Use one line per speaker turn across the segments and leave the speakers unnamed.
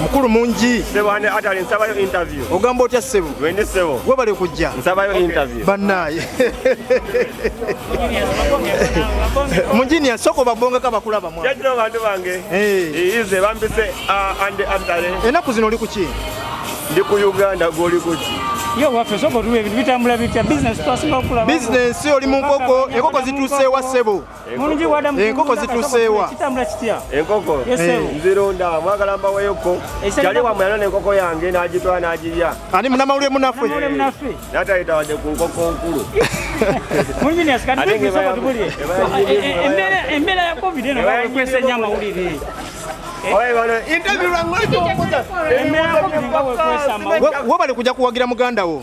mukulu mungi sebane atali nsabayo
interview ogamba otya sebo
wende sebo gwe bali
kujja nsabayo
interview
banaye
munjinia soko babonga ka bakula bamwa yajira bantu bange
eh ize bambise uh, ande atale enaku zino oli kuki
ndi ku
uganda goli kuki yo waffe soko
tuwe ebintu bitambula bitya business twasinga okula business oli mu nkoko
enkoko zituuseewa sebo Mulungi wada mu
enkoko zituseewa
kitambula kitya
enkoko eh.
nzironda mwagala mbaweyo ko kyali wa mwana enkoko yange n'agitwala n'agirya ani munamawulire munaffe
natayita
wadde ku nkoko nkulu
embeera ya covid eno bakwesa ennyo
amawulire webale kuja kuwagira muganda wo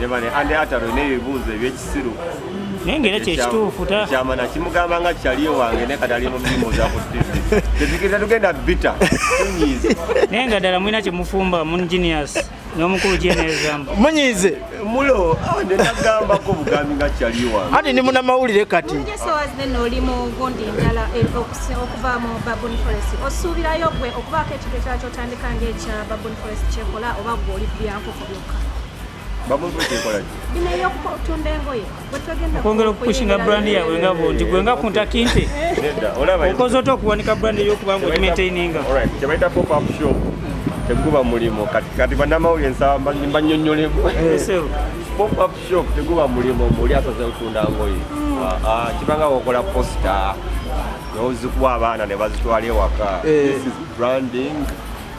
nebane
ande ataro nebibuuzo ebyekisiru naye ngaera
kyekituufu kyama nakimugamba nga
kyali ewange naye kati ali mu mirimu zakutegeeza tugenda bita tunyiize naye nga ddala mulina
kyemufumba mungenius n'omukulu gyenezamba munyiize
mulo ah,
nenagambako bugambi nga kyali ewange ati ndi munamawulire
kati oli mu
gundi ndala eh, okuva mu babon forest osuubirayo gwe okubaako ekintu ekyala kyotandika ngaekya babon forest kyekola oba gwe oli byankoko byokka okwongera
okupushinga brand yaabwe nga bunti gwe nga kuntakinte okoze
ota okuwanika brand
eyokuba nga ogimaintaininga
teguba mulimu kati banamawulire nsaba mbanyonyolemu popup shop teguba mulimu muli asaze otunda ngoye hmm. ah, ah, kibanga wokola posta nozikuwa abaana nebazitwala ewaka eh. branding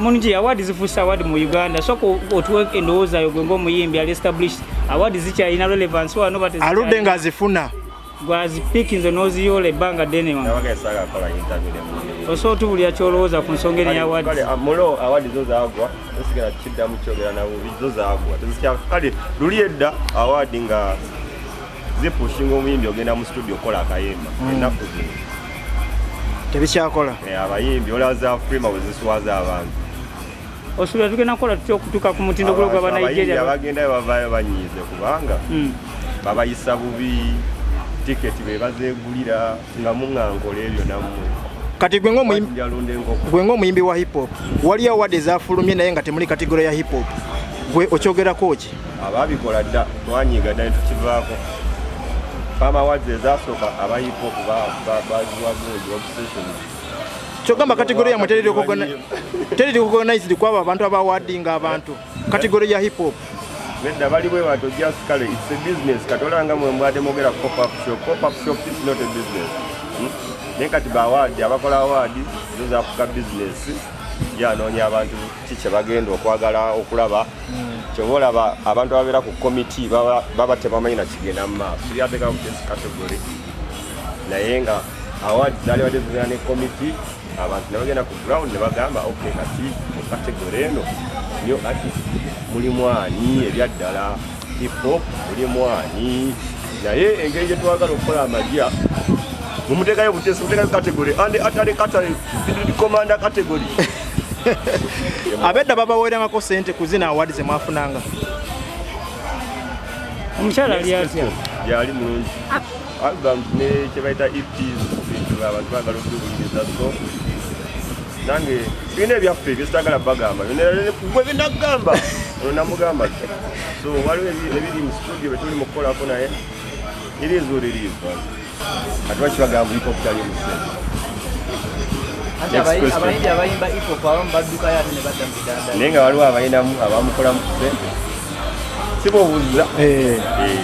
mungi
awaadi zifuuse awaadi mu uganda soka otuwe endowooza yo gwe ngaomuyimbi ali established awaadi zikyalina relevance wano aludde nga azifuna
gwazipiki
nze noziyoola ebbanga ddene wa osobola otubulira kyolowooza ku nsonga eri awaadi zo
zagwa osigala kiddamu kyogera nabubi zo zagwa kale luli edda awaadi nga zipushinga omuyimbi ogenda mu studio okola akayimba mm. ennaku zino
tebikyakola eh, abayimbi
olaba za freema bwe ziswaza abantu osubira
tugenda kukola tutya okutuuka ku mutindo gulo gwa banigeria abagendayo bavaayo
banyiize kubanga mm. babayisa bubi tiketi be bazegulira nga muŋankola ebyo nammwe kati
gwe ng'omuyimbi wa hip hop waliyo awadi ezafulumye naye nga temuli kategoro ya hip hop gwe okyogerako ki ababikola dda
twanyiiga dda netukivaako fama awards ezasooka aba hip hop baziwagungi obsession kyogamba
kategori yamwe teriri kugonized kwabo abantu abawadinga abantu kategori ya hip hop nedda bali bwe
bantu just kale its a business katolanga mwe mbwade mogera pop up shop pop up shop is not a business hmm? naye kati bawaadi abakola awaadi zo zafuka bizinesi gyanoonya abantu ki kye bagenda okwagala okulaba kyova olaba abantu ababeera ku komiti baba tebamanyi nakigenda mu maaso yateeka ku this category naye nga award zali badde zigenda ne komiti abantu nebagenda ku ground nebagamba ok kati mu category eno nyo ati mulimu ani ebyaddala hip-hop oli mwani naye engeri gye twagala okukola amagya mumuteekayo butesi muteekayo category and atali katale commander category abedda
babaweerangako sente ku zina award ze mwafunanga
omukyala ali atya yali mulungi
album ne kyebayita eps bintu abantu bagala okubiwuliriza so nange birina ebyaffe byesitagala bagamba byenagamba namugamba so waliwo ebiri mu studio betuli mukukolako naye iri ezuula eriivu ati bakibagamba hip hop tali omusente
naye nga waliwo abayinamu
abamukolamu kusente sibobuza eh. eh.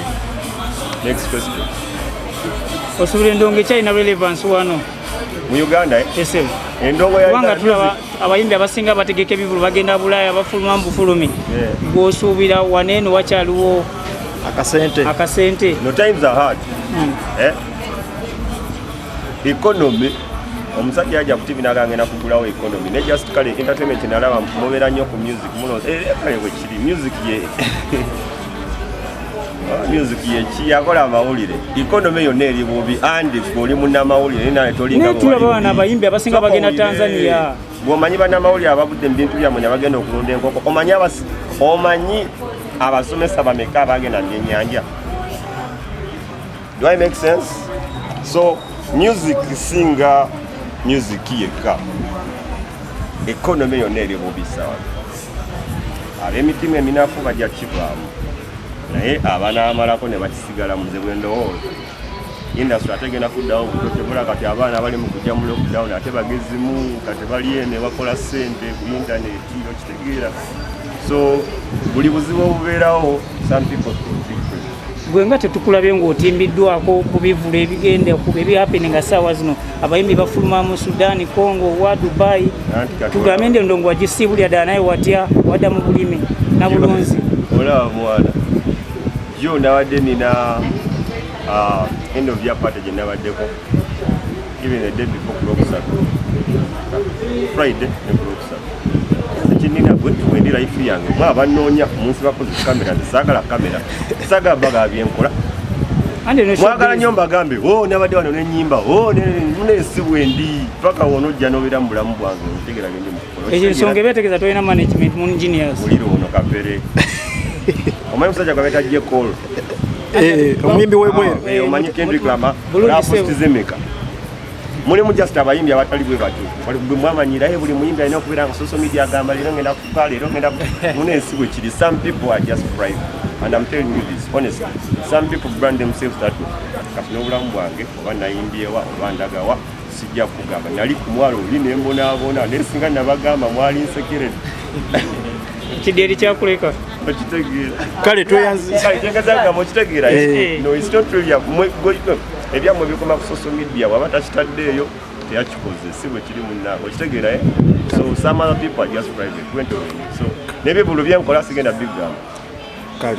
next question
osubira endongo ekyalina relevance wano mu uganda eh? kubanga
tulaba abayimbi
abasinga bategeka ebivulu bagenda bulaaya bafuluma mubufulumi gwosuubira waneeno wakyaliwo akasente hmm. eh?
economy omusajja aja ku tv nagangenda kugulawo economy ne just kale entertainment nalaba mubera nnyo ku music muno eh, kale bwekiri music ye music yeki yakola amawulire economy yonna eri bubi andi oli munamawulire naye tolinga tulaba bana abayimbi
abasinga bagenda tanzania bwomanyi banamawulire
abavudde mubintu byamwe nabagenda okulunda enkoko omanyi omanyi abasomesa bameka abagenda mubyenyanja Do I make sense? So music singa music yekka economy yonna eri bubi sawa ab'emitima eminafu bajja kivaamu naye abanaamalako ne bakisigala muze bwe ndowooza industry ate genda kuddawo butotebula kati abaana bali mu kujja mu lockdown ate bagezimu kati bali eno bakola ssente ku intaneti so buli buzibu obubeerawo some people gwe
nga tetukulabye ng'otimbiddwako ku bivulu ebigenda kuba ebihapeni nga saawa zino abayimbi bafuluma mu sudan congo wa dubai tugambe nde ndongo wagisiibulira ddala naye watya wadda mu bulimi na bulunzi olaba mwana
yo nabadde nina ah, end of yapata gye nabaddeko Even the day before Kulokusatu, Friday and Kulokusatu. Ekinina gwe twendi life yange mwa abanoonya munsi bakoze kamera saagala kamera saagala bagala byenkola mwagala nyo mbagambe o oh, nabadde wano nenyimba o oh, nensi wendi paka wono ojja nobeera mu bulamu bwange otegera gendi mukukolekyo ensonga ebetegeza tolina
management mu engineers muliro ono kapere
omanyi musajja gwabetajje kol eh,
omuyimbi webweru ah, eh, omanyi kendrick lama
bulungisebuzimika mulimu just abayimbi abatali bwe batyo bwemwamanyira ye buli muyimbi alina okubeera nga social media agamba leero ngenda kufa leero ngenda muna ensi bwe kiri some people are just private and I'm telling you this honestly some people brand themselves that kati n'obulamu bwange oba nayimbyewa oba ndagawa sijja kugamba nali ku mwalo oli ne mbonaabona naye singa nabagamba mwali nsekerere
kidyeri kyakuleka okitegeera
kale
tweyanzizagamba
okitegeera eh. no it's not really ebyamwe bikoma ku social media waba takitaddeeyo teyakikoze si bwe kiri munna okitegeera eh? so some other people are just private went away so nebyo bulu byenkola
sigenda
bigamba kale